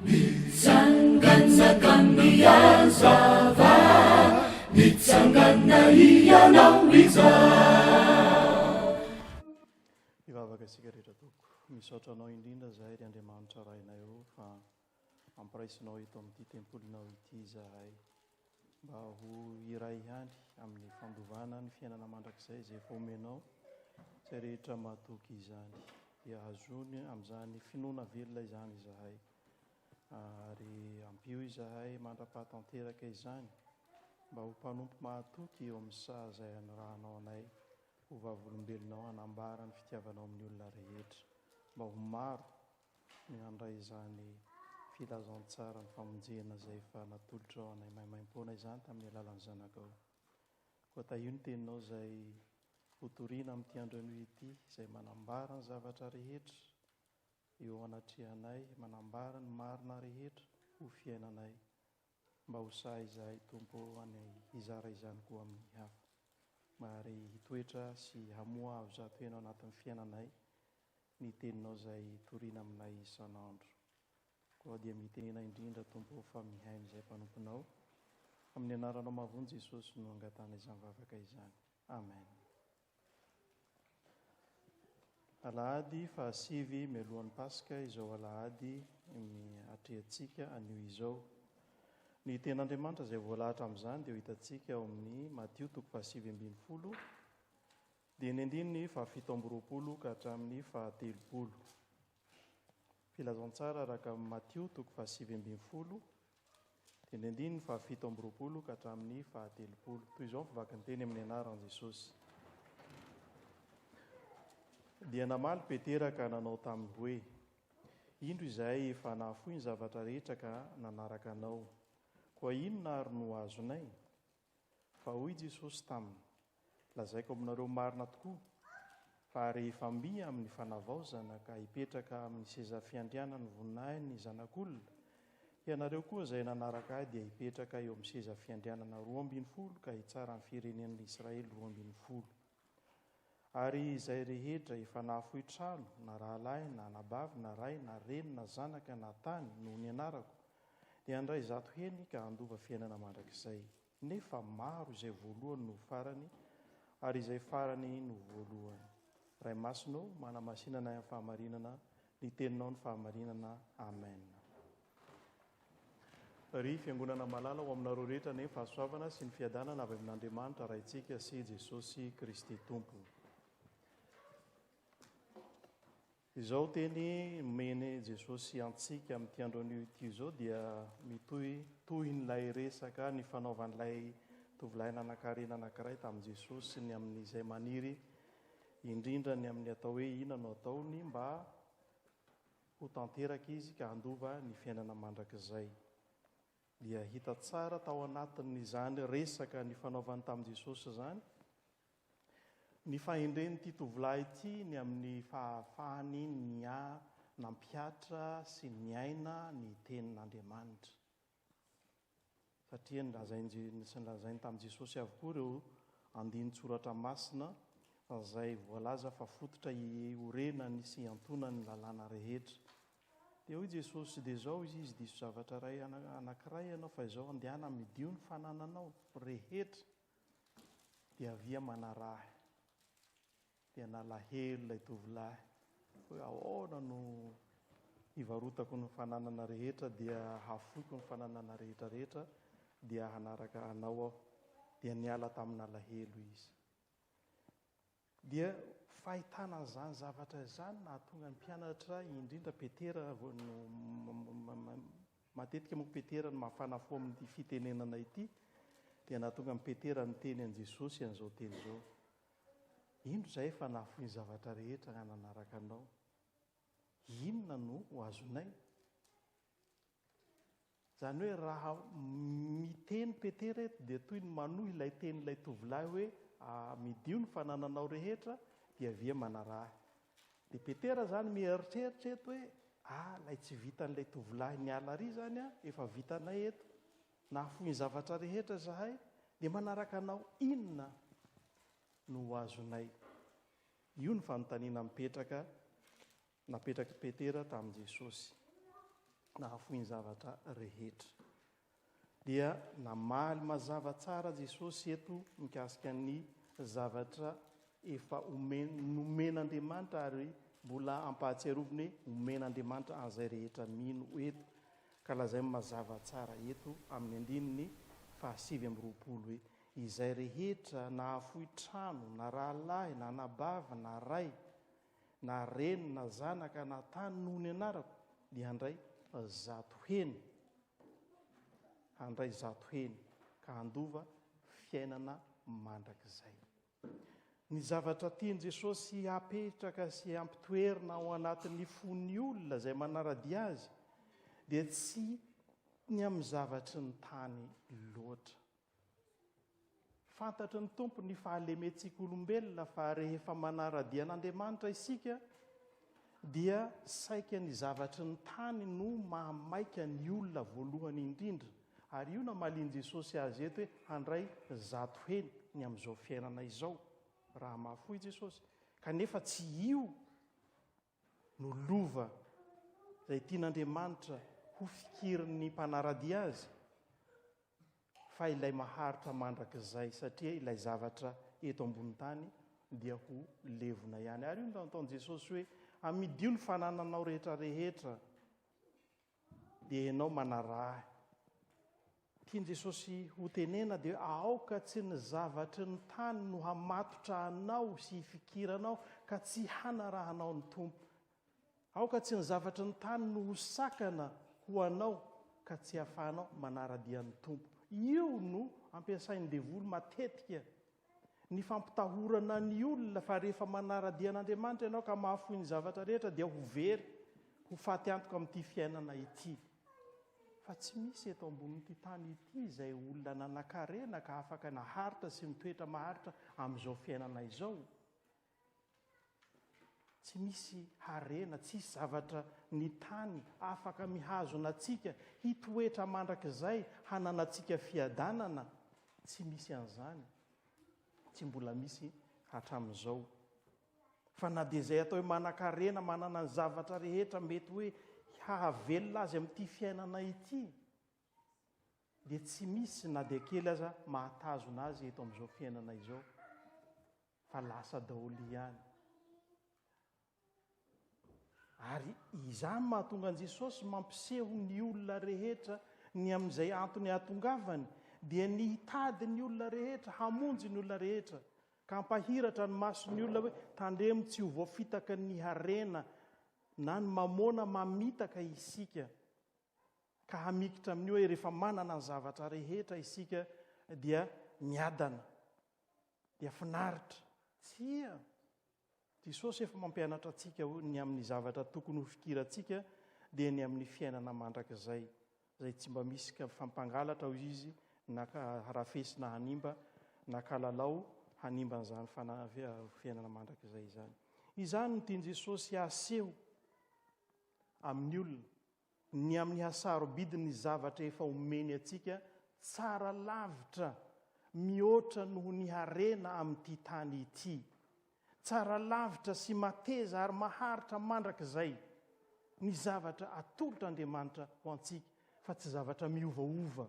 Mitsangana ka mihazava, mitsangana hianao izaho. Hivavaka isika rehetra Tompo. Misaotra Anao indrindra izahay ry Andriamanitra Rainay ô fa ampiraisinao eto amin'ity tempolinao ity izahay. mba ho iray ihany amin'ny fandovana ny fiainana mandrakizay izay efa omenao, izay rehetra mahatoky izany dia hazony amin'izany finoana velona izany izahay, ary ampio izahay mandra-paha tanteraka izany mba ho mpanompo mahatoky eo amin'ny saha izay anirahanao anay ho vavolombelonao hanambara ny fitiavanao amin'ny olona rehetra mba ho maro ny handray izany filazantsaran'ny famonjena izay efa natolotrao anay maimaimpoana izany tamin'ny alalan'ny Zanakao. Koa tahio ny Teninao izay hotorina amin'ity andro anio ity, izay manambara ny zavatra rehetra eo anatrehanay, manambara ny marina rehetra ho fiainanay, Mba ho sahy izahay, Tompo ô, any hizara izany koa amin'ny hafa, mba ary hitoetra sy hamoha avy zato heny ao anatin'ny fiainanay ny Teninao izay toriana aminay isan'andro. Koa dia mitenena indrindra, Tompo ô, fa mihaino izay mpanomponao. Amin'ny Anaranao mahavonjy Jesosy no angatahana izany vavaka izany. Amen. Alahady fahasivy mialohan'ny Paska izao alahady atrehantsika anio izao. Ny Tenin'Andriamanitra izay voalahatra amin'izany dia ho hitantsika ao amin'ny Matio toko fahasivy ambin'ny folo, dia ny andininy fahafito amby roapolo ka hatramin'ny fahatelopolo. Filazantsara araka amin'i Matio toko fahasivy ambin'ny folo, dia ny andininy fahafito amby roapolo ka hatramin'ny fahatelopolo. Toy izao ny fivakinteny amin'ny anaran'i Jesosy. Dia namaly Petera ka nanao taminy hoe, Indro izahay efa nahafoy ny zavatra rehetra ka nanaraka anao. Koa inona àry no azonay? Fa hoy Jesosy taminy, Lazaiko aminareo marina tokoa, fa rehefa mby amin'ny fanavaozana ka hipetraka amin'ny seza fiandrianan'ny voninahiny ny Zanak'olona, ianareo koa izay nanaraka ahy dia hipetraka eo amin'ny seza fiandrianana roa ambin'ny folo ka hitsara ny firenen'Israely roa ambin'ny folo. Ary izay rehetra efa nahafoy trano, na rahalahy, na anabavy, na ray, na reny, na zanaka, na tany, noho ny anarako, dia handray zato heny ka handova fiainana mandrakizay. Nefa maro izay voalohany noho farany, ary izay farany noho voalohany. Ray Masina ô, manamasina anay amin'ny fahamarinana Ny teninao no fahamarinana Amen. Ry fiangonana malala ho aminareo rehetra anie ny fahasoavana sy ny fiadanana avy amin'Andriamanitra Raintsika sy Jesosy Kristy Tompo. Izao teny nomeny Jesosy antsika amin'ity andro anio ity izao dia mitohy tohin'ilay resaka ny fanaovan'ilay tovolahy nanankarena anankiray tamin'i Jesosy ny amin'izay maniry indrindra ny amin'ny atao hoe inona no ataony mba ho tanteraka izy ka handova ny fiainana mandrakizay. Dia hita tsara tao anatin'izany resaka nifanaovany tamin'i Jesosy izany ny fahendren'ity tovolahy ity ny amin'ny fahafahany ny nampihatra sy niaina ny tenin'Andriamanitra. satria nolazain'i sy nolazainy tamin'i Jesosy avokoa ireo andinin-tsoratra masina izay voalaza fa fototra iorenany sy iantonany ny lalàna rehetra. Dia hoy Jesosy, dia izao izy izy diso zavatra iray anankiray ianao fa izao andehana midio ny fanananao rehetra dia avia manaraha ahy. Dia nalahelo ilay tovolahy hoe, Ahoana no hivarotako ny fananana rehetra dia hafoiko ny fananana rehetra rehetra dia hanaraka Anao aho? Dia niala tamin'alahelo izy. Dia fahitana an'izany zavatra izany nahatonga ny mpianatra, indrindra Petera, matetika moa Petera no mafana fo amin'ity fitenenana ity, dia nahatonga an'i Petera niteny an'i Jesosy an'izao teny izao, Indro izahay efa nahafoy ny zavatra rehetra hananaraka Anao. Inona no ho azonay? Izany hoe raha miteny Petera eto dia toy ny manohy ilay tenin'ilay tovolahy hoe amidio ny fanananao rehetra dia avy eo manaraha ahy. Dia Petera izany mieritreritra eto hoe ah ilay tsy vitan'ilay tovolahy niala ary izany an, efa vitanay eto. Nahafoy ny zavatra rehetra izahay, dia manaraka Anao inona no ho azonay? Io no fanontaniana mipetraka napetrak'i Petera tamin'i Jesosy. Nahafoy ny zavatra rehetra. Dia namaly mazava tsara Jesosy eto mikasika ny zavatra efa nomen'Andriamanitra ary mbola ampahatsiaroviny hoe omen'Andriamanitra an'izay rehetra mino eto. Ka lazainy mazava tsara eto amin'ny andininy fahasivy amby roapolo hoe, Izay rehetra nahafoy trano, na rahalahy, na anabavy, na ray, na reny, na zanaka, na tany noho ny anarako, dia handray zato heny, handray zato heny, ka handova fiainana mandrakizay. Ny zavatra tian'i Jesosy hapetraka sy hampitoerina ao anatin'ny fon'ny olona izay manara-dia Azy dia tsy ny amin'ny zavatry ny tany loatra. Fantatry ny Tompo ny fahalementsika olombelona fa rehefa manara-dia an'Andriamanitra isika dia saika ny zavatry ny tany no mahamaika ny olona voalohany indrindra Ary io namalian'i Jesosy azy eto hoe handray zato heny ny amin'izao fiainana izao, raha mafy fo i Jesosy. Kanefa tsy io no lova izay tian'Andriamanitra hofikirin'ny mpanara-dia azy, fa ilay maharitra mandrakizay, satria ilay zavatra eto ambony tany dia ho levona ihany. Ary io no nataon'i Jesosy hoe, Amidio ny fanananao rehetra rehetra. Dia ianao manaraha ahy. Tian'i Jesosy hotenena dia aoka tsy ny zavatry ny tany no hamatotra anao sy hifikiranao ka tsy hanarahanao ny Tompo. Aoka tsy ny zavatry ny tany no ho sakana ho anao ka tsy hahafahanao manara-dia ny Tompo. Io no ampiasain'ny devoly matetika Ny fampitahorana ny olona fa rehefa manara-dia an'Andriamanitra ianao ka mahafoy ny zavatra rehetra dia ho very, ho faty antoka amin'ity fiainana ity. Fa tsy misy eto ambonin'ity tany ity izay olona nanan-karena ka afaka naharitra sy mitoetra maharitra amin'izao fiainana izao. Tsy misy harena, tsy hisy zavatra ny tany afaka mihazona antsika, hitoetra mandrakizay, hananantsika fiadanana. Tsy misy an'izany. Tsy mbola misy hatramin'izao. Fa na dia izay atao hoe manan-karena, manana ny zavatra rehetra mety hoe hahavelona azy amin'ity fiainana ity, dia tsy misy na dia kely aza mahatazona azy eto amin'izao fiainana izao. fa lasa daholo ihany. Ary izany mahatonga an'i Jesosy mampiseho ny olona rehetra ny amin'izay antony hahatongavany, dia ny hitady ny olona rehetra, hamonjy ny olona rehetra, ka hampahiratra ny mason'ny olona hoe tandremo tsy ho voafitaka ny harena na ny mamôna mamitaka isika, ka hamikitra amin'ny hoe rehefa manana ny zavatra rehetra isika dia miadana. dia finaritra. Tsia! Jesosy efa mampianatra antsika hoe ny amin'ny zavatra tokony ho fikirantsika dia ny amin'ny fiainana mandrakizay, izay tsy mba misy ka fampangalatra hoy izy na ka harafesina hanimba na kalalao hanimba an'izany fana- fiainana mandrakizay izany. Izany no tian'i Jesosy haseho amin'ny olona. Ny amin'ny hasarobidy ny zavatra efa omeny antsika tsara lavitra mihoatra noho ny harena amin'ity tany ity. Tsara lavitra sy mateza ary maharitra mandrakizay ny zavatra atolotr'Andriamanitra ho antsika fa tsy zavatra miovaova.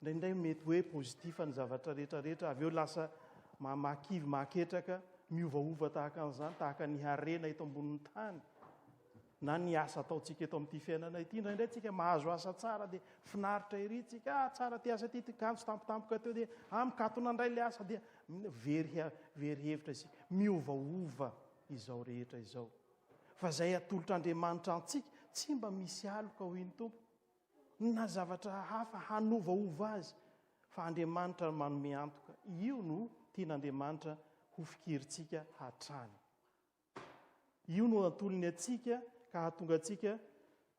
Indraindray mety hoe positif ny zavatra rehetra rehetra, avy eo lasa mahakivy, mahaketraka, miovaova tahaka an'izany, tahaka ny harena eto ambonin'ny tany, na ny asa ataontsika eto amin'ity fiainana ity. Indraindray tsika mahazo asa tsara dia finaritra ery tsika, ah tsara ty asa ity, ty kanjo tampotampoka teo dia ah mikatona indray le asa dia very, very hevitra isika. Miovaova izao rehetra izao. Fa izay atolotr'Andriamanitra antsika, tsy mba misy aloka hoy ny Tompo. Na zavatra hafa hanovaova azy, fa Andriamanitra no manome antoka. Io no tian'Andriamanitra ho fikirintsika hatrany. Io no antolony antsika ka hahatonga antsika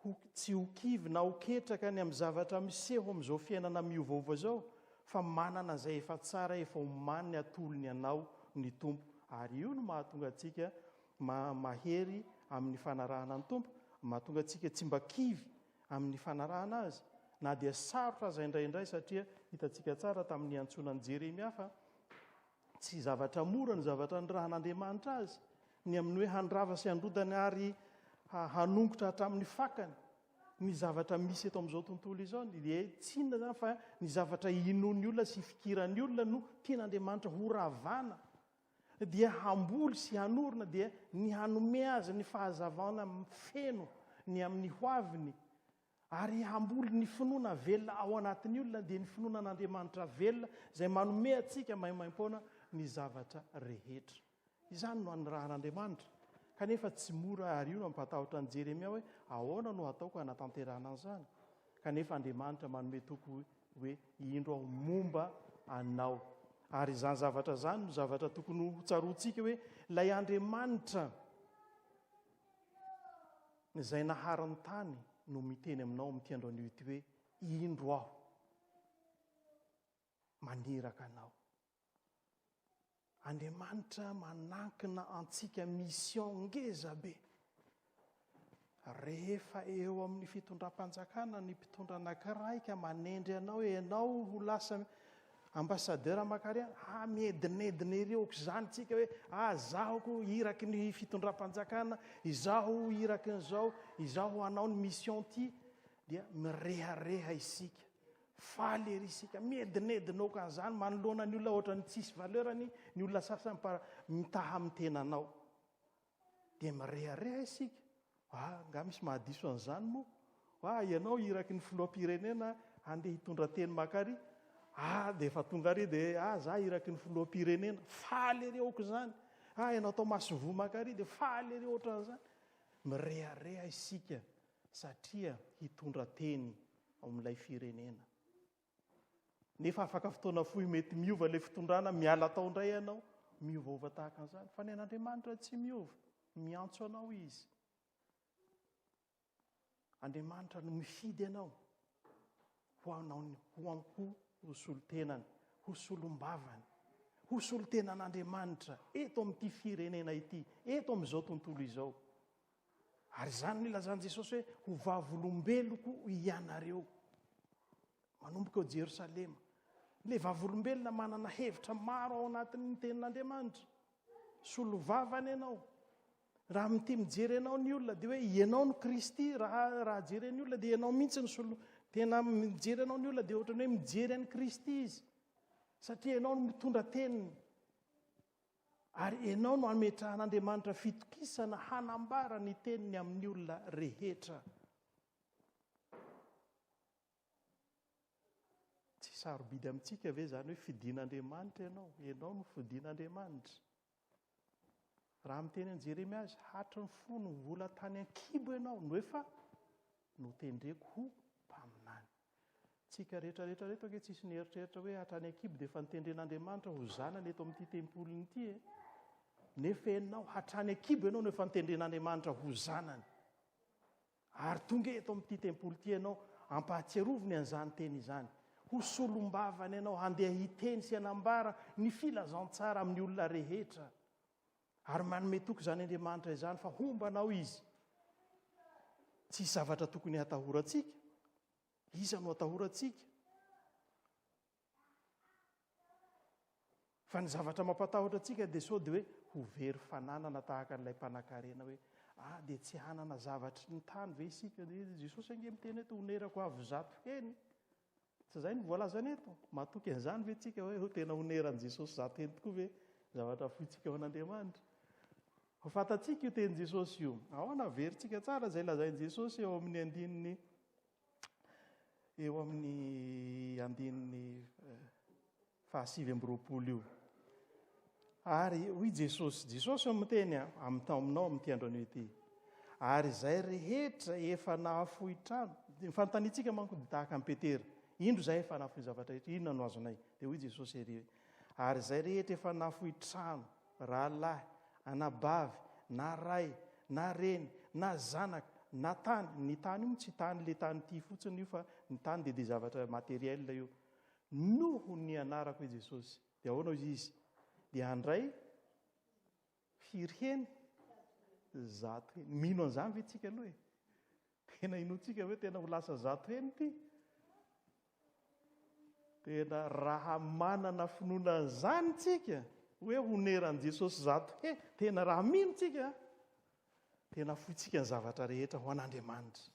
ho tsy ho kivy na ho ketraka ny amin'ny zavatra miseho amin'izao fiainana miovaova izao, fa manana izay efa tsara efa omaniny atolony anao ny Tompo. Ary io no mahatonga antsika mahery amin'ny fanarahana ny Tompo, mahatonga antsika tsy mba kivy amin'ny fanarahana azy, na dia sarotra aza indraindray, satria hitantsika tsara tamin'ny niantsoana an'i Jeremia fa tsy zavatra mora ny zavatra nirahan'Andriamanitra azy, ny amin'ny hoe handrava sy handrodany ary hanongotra hatramin'ny fakany ny zavatra misy eto amin'izao tontolo izao, dia tsinona zany fa ny zavatra inoan'ny olona sy ifikiran'ny olona no tian'Andriamanitra horavana. dia hamboly sy hanorina dia ny hanome azy ny fahazavana feno ny amin'ny hoaviny ary hamboly ny finoana velona ao anatin'ny olona dia ny finoana an'Andriamanitra velona izay manome antsika maimaim-poana ny zavatra rehetra. Izany no anirahan'Andriamanitra. Kanefa tsy mora ary io no mampatahotra an'i Jeremia hoe ahoana no hataoko hanatanterahana an'izany? Kanefa Andriamanitra manome toky hoe, Indro aho momba anao. Ary izany zavatra izany no zavatra tokony hotsaroantsika hoe ilay Andriamanitra izay nahary ny tany no miteny aminao amin'ity andro anio ity hoe, Indro aho. maniraka anao. Andriamanitra manankina antsika mission ngeza be. Rehefa eo amin'ny fitondram-panjakana ny mpitondra anankiray ka manendry anao ianao ho lasa ambassadeur Makariana, ah miedinedina ery aok'izany tsika hoe ah zaho ko iraky ny fitondram-panjakana, izaho iraky ny zao, izaho hanao ny mission ty dia mirehareha isika. Faly ery isika. Miedinedina okan'izany manoloana ny olona ohatran'ny tsisy valeur-ny ny olona sasany par mitaha amin'ny tenanao. Dia mirehareha isika. Ah, angaha misy mahadiso an'izany moa? Ah, ianao iraky ny filoham-pirenena handeha hitondra teny maka ary? Ah, dia efa tonga ary dia ah, za iraky ny filoham-pirenena. Faly ery okan'izany. Ah, ianao tao Masivoa maka ary dia faly ery ohatran'izany. Mirehareha isika. satria hitondra teny ao amin'ilay firenena. Nefa afaka fotoana fohy mety miova ilay fitondrana, miala tao indray ianao, miovaova tahaka an'izany. Fa ny an'Andriamanitra tsy miova, miantso anao Izy. Andriamanitra no mifidy anao ho anao ho ampo ho solontenany, ho solombavany, ho solontenan'Andriamanitra eto amin'ity firenena ity, eto amin'izao tontolo izao. Ary izany no ilazan'i Jesosy hoe, Ho vavolombeloko hianareo. Manomboka ao Jerosalema. Ilay vavolombelona manana hevitra maro ao anatin'ny tenin'Andriamanitra. Solovava any ianao. Raha mitia mijery anao ny olona, dia hoe ianao no Kristy, raha, raha jeren'ny olona, dia ianao mihitsy ny solo, tena mijery anao ny olona, dia ohatrany hoe mijery an'i Kristy izy. Satria ianao no mitondra teniny. Ary enao no ametrahan'Andriamanitra fitokisana hanambara ny teniny amin'ny olona rehetra. Tsy sarobidy amintsika ve izany hoe fidin'Andriamanitra ianao? Ianao no fidin'Andriamanitra. Raha miteny an'i Jeremia azy, hatry ny fony mbola tany an-kibo ianao no efa notendreko ho mpaminany. Antsika rehetra rehetra reto ange tsisy nieritreritra hoe hatra any an-kibo dia efa nitendren'Andriamanitra ho zanany eto amin'ity tempoliny ity e. Nefa ianao hatrany an-kibo ianao no efa nitendren'Andriamanitra ho zanany. Ary tonga eto amin'ity tempoly ity ianao ampahatsiaroviny an'izany teny izany. Ho solombavany ianao handeha hiteny sy hanambara ny filazantsara amin'ny olona rehetra. Ary manome toky izany Andriamanitra izany fa homba anao Izy. Tsisy zavatra tokony hatahorantsika. Iza no atahorantsika? Fa ny zavatra mampatahotra antsika dia sao dia hoe ho very fananana tahaka an'ilay mpanakarena hoe ah dia tsy hanana zavatry ny tany ve isika? Jesosy ange miteny hoe tonerako avo zato heny. Tsy izay no voalazany eto. Matoky an'izany ve isika hoe ho tena honeran'i Jesosy izany teny tokoa ve zavatra fointsika ao an'Andriamanitra? Ho fantatsika io tenin'i Jesosy io. Ahoana averintsika tsara izay lazain'i Jesosy eo amin'ny andininy eo amin'ny andininy eh, fahasivy amby roapolo io. Ary hoy Jesosy, Jesosy no miteny amin'ny taominao amin'ity andronio ity. Ary izay rehetra efa nahafoy trano, ny fanontaniantsika manko dia tahaka an'i Petera, indro izay efa nahafoy zavatra rehetra, inona no azonay? Dia hoy Jesosy ery, ary izay rehetra efa nahafoy trano, rahalahy, anabavy, na ray, na reny, na zanaka, na tany, ny tany io tsy tany le tany ity fotsiny io fa ny tany dia dia zavatra matériel io. Noho ny anarako i Jesosy. Dia ahoana hoy izy? Dia handray firy heny? Zato heny. Mino an'izany ve tsika aloha e? Tena inoantsika hoe tena ho lasa zato heny ity? Tena raha manana finoana an'izany tsika, hoe honeran'i Jesosy zato heny, tena raha mino tsika, tena foitsika ny zavatra rehetra ho an'Andriamanitra.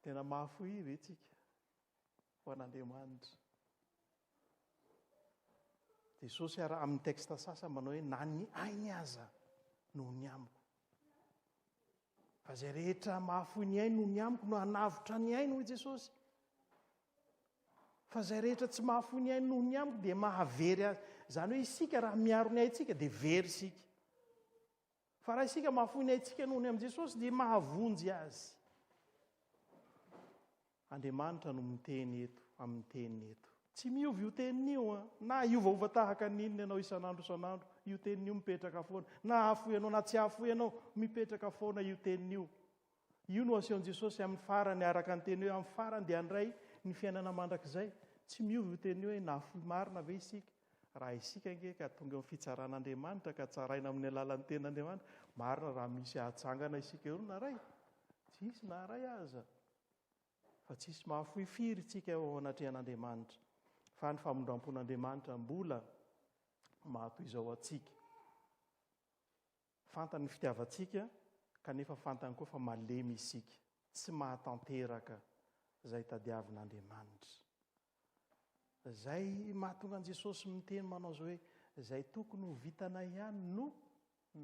Tena mahafoy ve tsika ho an'Andriamanitra? Jesosy ary amin'ny texte sasany manao hoe na ny ainy aza noho ny amiko. Fa izay rehetra mahafoy ny ainy noho ny amiko no hanavotra ny ainy hoy Jesosy. Fa izay rehetra tsy mahafoy ny ainy noho ny amiko dia mahavery azy. Izany hoe isika raha miaro ny aintsika dia very isika. Fa raha isika mahafoy ny aintsika noho ny amin'i Jesosy dia mahavonjy azy. Andriamanitra no miteny eto, amin'ny teniny eto. Tsy miova io teniny io an. Na hiovaova tahaka ny inona ianao isan'andro isan'andro, io teniny io mipetraka foana. Na hahafoy anao na tsy hahafoy anao, mipetraka foana io teniny io. Io no asehon'i Jesosy amin'ny farany, araka ny teny hoe amin'ny farany dia handray ny fiainana mandrakizay. Tsy miova io teny io hoe nahafoy marina ve isika, raha isika ange ka tonga eo amin'ny fitsaran'Andriamanitra ka tsaraina amin'ny alalan'ny tenin'Andriamanitra, marina raha misy hahajangana isika eo naray, tsy hisy na iray aza, fa tsy hisy mahafoy firy isika eo anatrehan'Andriamanitra, fa ny famindrampon'Andriamanitra mbola mahatoy izao antsika. Fantany ny fitiavantsika kanefa fantany koa fa malemy isika, tsy mahatanteraka izay tadiavin'Andriamanitra. Izay mahatonga an'i Jesosy miteny manao izao hoe, Izay tokony ho vitanay ihany no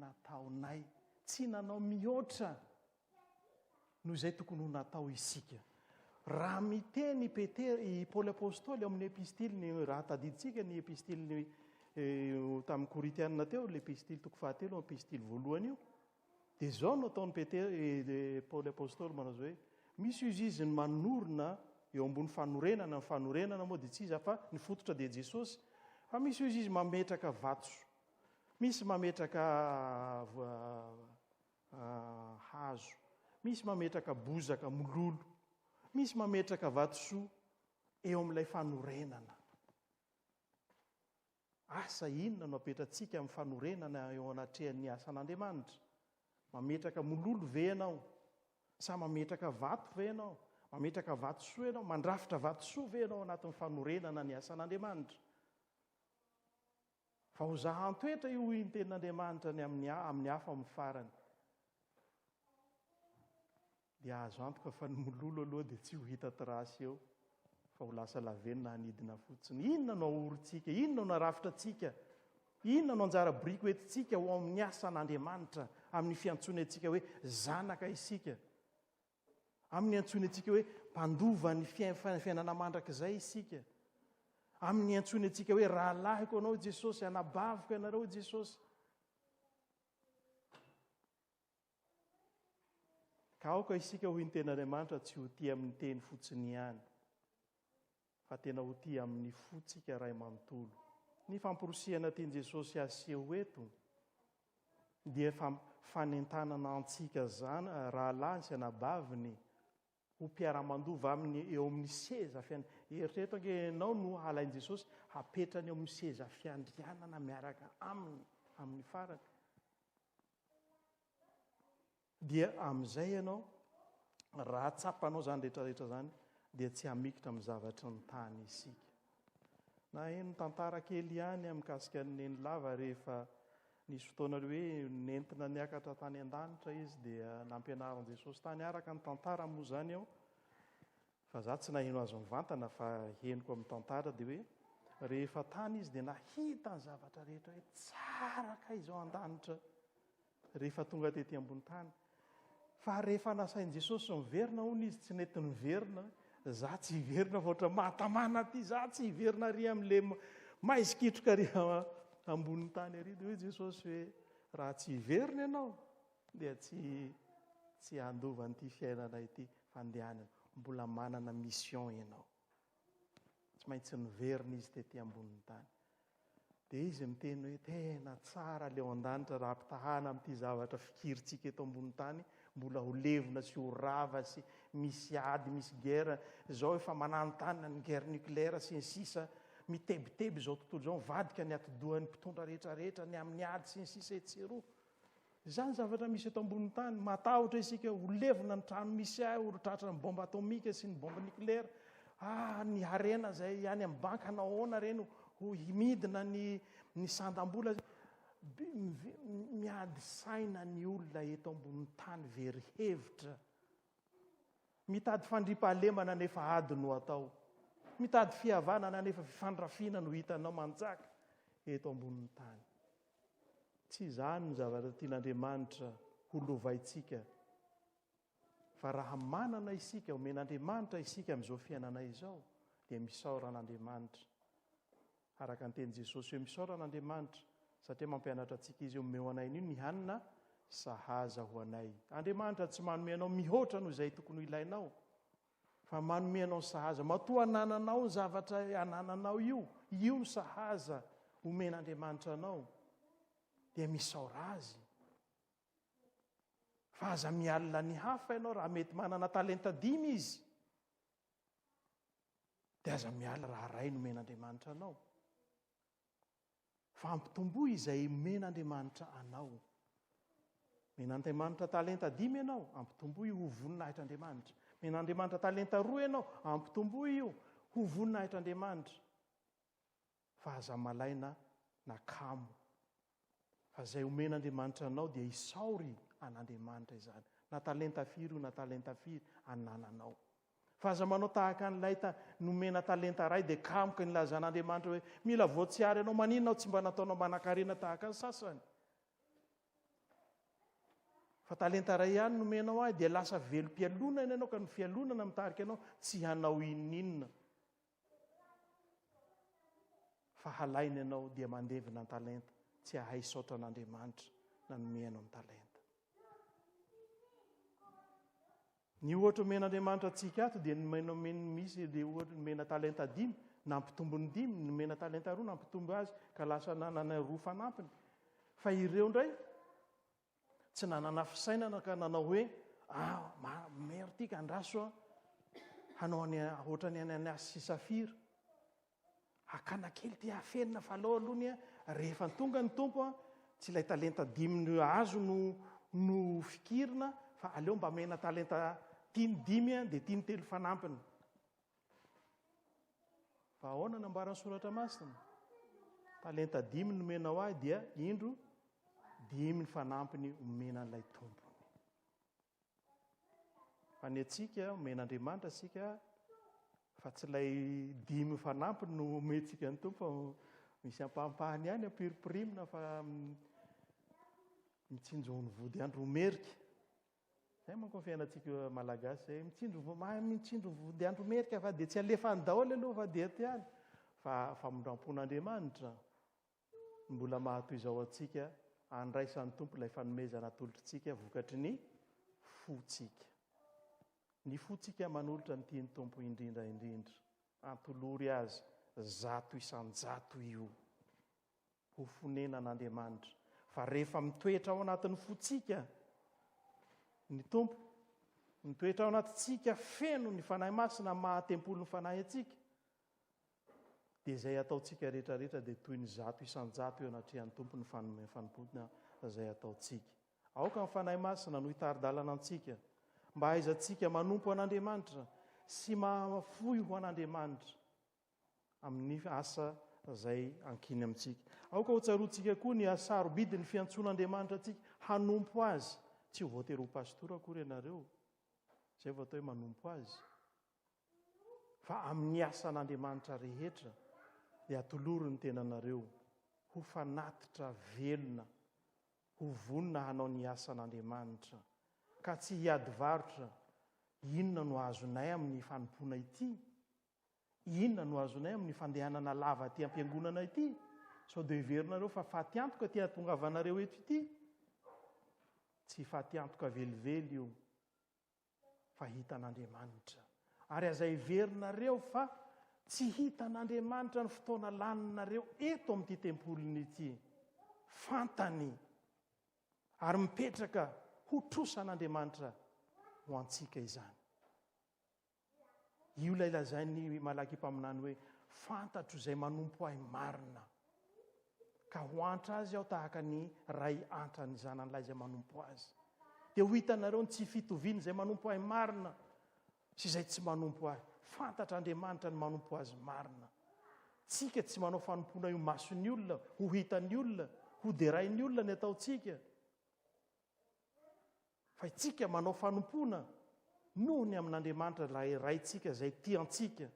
nataonay. Tsy nanao mihoatra Noho izay tokony ho natao isika. Raha miteny i Petera, i Paoly Apostoly ao amin'ny epistiliny, raha tadidintsika ny epistiliny eh, tamin'ny Korintianina teo, ilay epistily toko fahatelo, epistily voalohany io, dia izao no ataon'i Petera, eh, Paoly Apostoly manao hoe, misy izy izy ny manorina eo ambony fanorenana, ny fanorenana moa dia tsy iza fa ny fototra dia Jesosy, fa misy izy izy mametraka vato, misy mametraka hazo, misy mametraka bozaka mololo, misy mametraka vatosoa eo amin'ilay fanorenana. Asa inona no apetratsika amin'ny fanorenana eo anatrehan'ny asan'Andriamanitra? Mametraka mololo ve ianao? Sa mametraka vato ve ianao? Mametraka vatosoa ianao? Mandrafitra vatosoa ve ianao anatin'ny fanorenana ny asan'Andriamanitra? Fa ho zahan-toetra io hoy ny tenin'Andriamanitra ny amin'ny amin'ny afo amin'ny farany. Dia azo antoka fa ny mololo aloha dia tsy ho hita trace eo fa ho lasa lavenona hanidina fotsiny. Inona no ahorintsika? Inona no arafitra antsika? Inona no anjara biriky ho entintsika ho amin'ny asan'Andriamanitra amin'ny fiantsoany antsika hoe zanaka isika? Aminy antsoiny antsika hoe mpandova ny fiainana mandrakizay isika. Aminy antsoiny antsika hoe rahalahiko anao Jesosy, anabaviko ianareo Jesosy. Ka aoka isika ho ny tenin'Andriamanitra tsy ho tia amin'ny teny fotsiny ihany. fa tena ho tia amin'ny fontsika iray manontolo. Ny famporisihana tian'i Jesosy haseho eto dia fa fanentanana antsika rahalahy sy anabaviny ho mpiara-mandova aminy eo amin'ny seza fiandrianana. Eritrereto ange ianao no halain'i Jesosy hapetrany eo amin'ny seza fiandrianana miaraka aminy amin'ny farany. Dia amin'izay ianao, raha tsapanao izany rehetrarehetra izany, dia tsy hamikitra amin'ny zavatry ny tany isika. Naheno tantara kely ihany aho mikasika an'i Nenilava rehefa nisy fotoana hoe nentina niakatra tany an-danitra izy dia nampianarin'i Jesosy tany. Araka ny tantara moa izany aho, fa za tsy naheno azy mivantana fa henoko amin'ny tantara dia hoe rehefa tany izy dia nahita ny zavatra rehetra hoe tsara kay izao an-danitra. Rehefa tonga tety ambony tany. Fa rehefa nasain'i Jesosy miverina hono izy, tsy nety niverina. Za tsy hiverina fa ohatra mahatamana aty, za tsy hiverina ary amin'le maizy kitroka ary ambony tany ary. Dia hoy Jesosy hoe raha tsy hiverina ianao dia tsy tsy handova an'ity fiainana ity fandehanana. Mbola manana mission ianao. Tsy maintsy niverina izy tety ambonin'ny tany. Dia izy miteny hoe tena tsara ilay ao an-danitra raha ampitahana amin'ity zavatra fikirintsika eto ambonin'ny tany, mbola ho levona sy ho rava sy misy ady, misy guerre. Izao efa mananontanona ny guerre nucléaire sy ny sisa, mitebiteby izao tontolo izao, mivadika ny atidohan'ny mpitondra rehetra rehetra ny amin'ny ady sy ny sisa etsy sy eroa. Izany ny zavatra misy eto ambonin'ny tany. Matahotra isika ho levona ny trano misy ahy, ho tratran'ny bomba atomika sy ny bomba niklera. Ah, ny harena izay any amin'ny banky hanao ahoana ireny ho himidina ny, ny sandam-bola. Miady saina ny olona eto ambonin'ny tany very hevitra. Mitady fandriampahalemana nefa ady no atao. Mitady fihavanana nefa fifandrafiana no hitanao manjaka eto ambonin'ny tany. Tsy izany ny zavatra tian'Andriamanitra ho lovaintsika. Fa raha manana isika, omen'Andriamanitra isika amin'izao fiainanay izao, dia misaora an'Andriamanitra. Araka ny tenin'i Jesosy hoe misaora an'Andriamanitra, satria mampianatra antsika izy hoe omeo anay anio ny hanina sahaza ho anay. Andriamanitra tsy manome anao mihoatra noho izay tokony ho ilainao, Fa manome anao sahaza. Matoa anananao ny zavatra anananao io, io ny sahaza omen'Andriamanitra anao, dia misaora Azy. Fa aza mialina ny hafa ianao raha mety manana talenta dimy izy. Dia aza mialina raha iray nomen'Andriamanitra anao. Fa ampitomboy izay omen'Andriamanitra anao. Men'Andriamanitra talenta dimy ianao, ampitomboy ho voninahitr'Andriamanitra. Men'Andriamanitra talenta roa ianao, ampitomboy io ho voninahitr'Andriamanitra. Fa aza malaina na kamo. Fa izay omen'Andriamanitra anao dia isaory an'Andriamanitra izany. Na talenta firy io na talenta firy anananao. Fa aza manao tahaka an'ilay ta, nomena talenta ray dia kamoka nilazan' Andriamanitra hoe, Mila voatsiary anao, maninona aho tsy mba nataonao manankarena tahaka ny sasany? Fa talenta iray ihany nomenao ahy, dia lasa velom-pialonana ianao ka ny fialonana mitarika anao tsy hanao inon'inona. Fa halaina ianao dia mandevina ny talenta, tsy hahay saotra an'Andriamanitra nanome anao ny talenta. Ny ohatra omen'Andriamanitra antsika ato dia ny maina omen'ny misy ilay ohatra nomena talenta dimy, nampitombo ny dimy, ny nomena talenta roa nampitombo azy ka lasa nanana roa fanampiny. Fa ireo indray tsy nanana fisainana ka nanao hoe ah maire ity ka andraso aho hanao any hoatrany any an'asy sy safira. Hakana kely ity afenina fa alao aloha ny a rehefa tonga ny Tompo a, tsy ilay talenta dimy no azo no no fikirina fa aleo mba amena talenta tiny dimy a dia tiny telo fanampiny. Fa ahoana no ambaran'ny soratra masina? Talenta dimy nomenao ahy dia indro dimy ny fanampiny omena an'ilay Tompo. Fa ny antsika, omen'Andriamanitra antsika, fa tsy ilay dimy fanampiny no omentsika ny tompo, fa misy ampahampahany ihany ampirimpirimina fa mitsinjo ny vody andro merika. Zay manko ny fiainantsika malagasy zay, mitsinjo mahay mitsinjo vody andro merika fa dia tsy alefany daholo aloha fa dia tiany fa famindram-pon'Andriamanitra. Mbola mahatoy izao antsika handraisan'ny Tompo ilay fanomezana atolotr'ntsika vokatry ny fontsika. Ny fontsika manolotra ny tian'ny Tompo indrindra indrindra, antolory Azy zato isan-jato io ho fonenan'Andriamanitra, fa rehefa mitoetra ao anatin'ny fontsika ny Tompo, mitoetra ao anatintsika feno ny Fanahy Masina maha Tempolin'ny Fanahy antsika, Dia izay ataontsika rehetra rehetra dia toy ny zato isan-jato eo anatrehan'ny Tompo ny fanome fanompoana izay ataontsika. Aoka ny Fanahy Masina no hitari-dalana antsika mba hahaizantsika manompo an'Andriamanitra sy mahafoy ho an'Andriamanitra amin'ny asa izay ankiny amintsika. Aoka ho tsaroantsika koa ny hasarobidy ny fiantsoana Andriamanitra antsika hanompo Azy. Tsy ho voatery ho pastora akory ianareo. Izay vao atao hoe manompo Azy. fa amin'ny asan'Andriamanitra rehetra dia atolory ny tenanareo ho fanatitra velona, ho vonona hanao ny asan'Andriamanitra, ka tsy hiady varotra, inona no azonay amin'ny fanompoana ity? Inona no azonay amin'ny fandehanana lava aty am-piangonana ity? Sao dia heverinareo fa faty antoka ity ahatongavanareo eto ity? Tsy faty antoka velively io, fa hitan'Andriamanitra. Ary aza heverinareo fa tsy hitan'Andriamanitra ny fotoana laninareo eto amin'ity tempoliny ity. Fantany ary mipetraka ho trosan'Andriamanitra ho antsika izany. Io ilay lazain'i Malaky mpaminany hoe, Fantatro izay manompo ahy marina, ka ho antra azy aho tahaka ny ray antra ny zananilahy izay manompo azy. Dia ho hitanareo ny tsy fitovian'izay manompo ahy marina sy izay tsy manompo ahy. Fantatr'Andriamanitra ny manompo azy marina. Tsika tsy manao fanompoana io mason'ny olona, ho hitan'ny olona, ho derain'ny olona ny ataontsika. Fa itsika manao fanompoana noho ny amin'Andriamanitra ilay Raintsika izay tia antsika.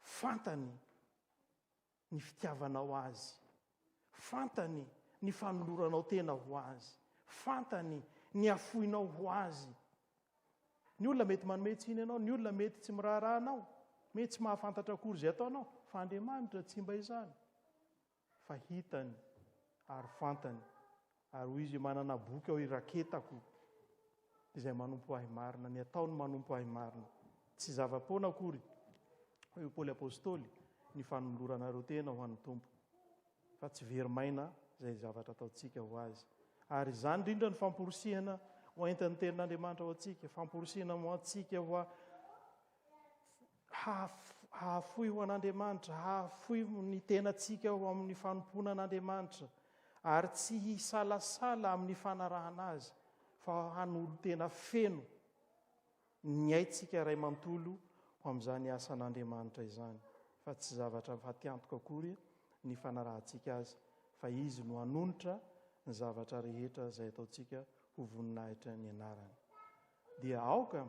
Fantany ny fitiavanao Azy. Fantany ny fanoloranao tena ho Azy. Fantany ny hafoinao ho Azy. Ny olona mety manome tsiny anao, ny olona mety tsy miraharaha anao, mety tsy mahafantatra akory izay ataonao, fa Andriamanitra tsy mba izany. fa hitany ary fantany, ary hoy izy, Manana boky aho iraketako izay manompo ahy marina, ny ataony manompo ahy marina. Tsy zava-poana akory, hoy i Paoly Apostoly, ny fanoloranareo tena ho an'ny Tompo, fa tsy very maina izay zavatra ataontsika ho azy. Ary izany indrindra ny famporisihana hoentin'ny tenin'Andriamanitra ho antsika, famporisihina ho antsika ho hahafoy ho an'Andriamanitra, hahafoy ny tenantsika ho amin'ny fanompoana an'Andriamanitra, ary tsy hisalasala amin'ny fanarahana Azy, fa hanolo-tena feno ny aintsika iray manontolo ho amin'izany asan'Andriamanitra izany. Fa tsy zavatra fatiantoka akory ny fanarahantsika Azy, fa Izy no hanonitra ny zavatra rehetra izay ataontsika ho voninahitra ny Anarany. Dia aoka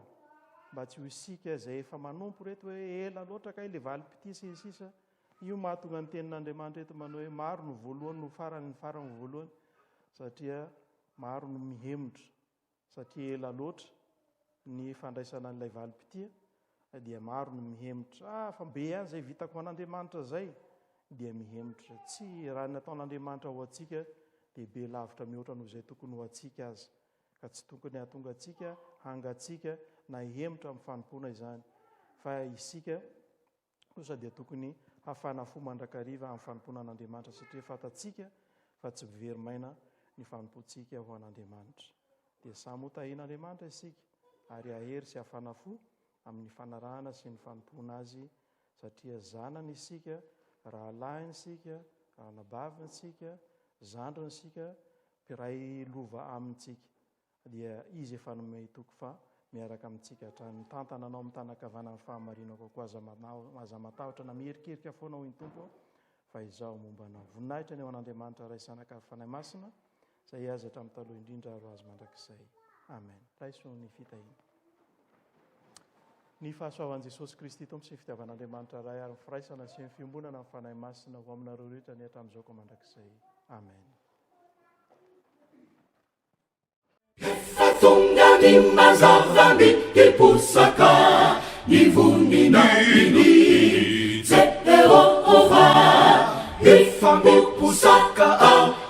mba tsy ho isika izay efa manompo ireto hoe ela loatra kay ilay valim-pitia sy ny sisa. Io mahatonga ny tenin'Andriamanitra eto manao hoe maro no voalohany no farany ny farany no voalohany satria maro no mihemotra satria ela loatra ny fandraisana an'ilay valim-pitia dia maro no mihemotra ah fa be ihany izay vitako ho an'Andriamanitra izay dia mihemotra tsy raha ny ataon'Andriamanitra ho antsika dia be lavitra mihoatra noho izay tokony ho antsika aza ka tsy tokony hahatonga antsika hangatsiaka na hihemotra amin'ny fanompoana izany, fa isika kosa dia tokony hafana fo mandrakariva amin'ny fanompoana an'Andriamanitra satria fantatsika fa tsy very maina ny fanompoantsika ho an'Andriamanitra. Dia samy ho tahin'Andriamanitra isika ary hahery sy hafana fo amin'ny fanarahana sy ny fanompoana Azy satria zanany isika, rahalahiny isika, anabaviny isika, zandriny isika, mpiray lova amintsika, dia Izy efa nomey toky fa miaraka amintsika hatrany. Mitantana anao mitanakavana amin'ny fahamarinako koa. Aza, aza matahotra na mihirikirika foana, hoy ny Tompo, fa Izaho momba anao. Voninahitra ny ho an'Andriamanitra Ray sy Anakavy Fanahy Masina, Izay azy hatramin'ny taloha indrindra ary ho azy mandrakizay. Amen. Raiso ny fitahiana. Ny fahasoavan'i Jesosy Kristy Tompo sy ny fitiavan'Andriamanitra Ray ary ny firaisana sy ny fiombonana amin'ny Fanahy Masina ho aminareo rehetra ny hatramin'izao ka mandrakizay. Amen. Efa tonga ny mazava ny hiposaka ny voninahiny Jehovah, hifampiposaka ao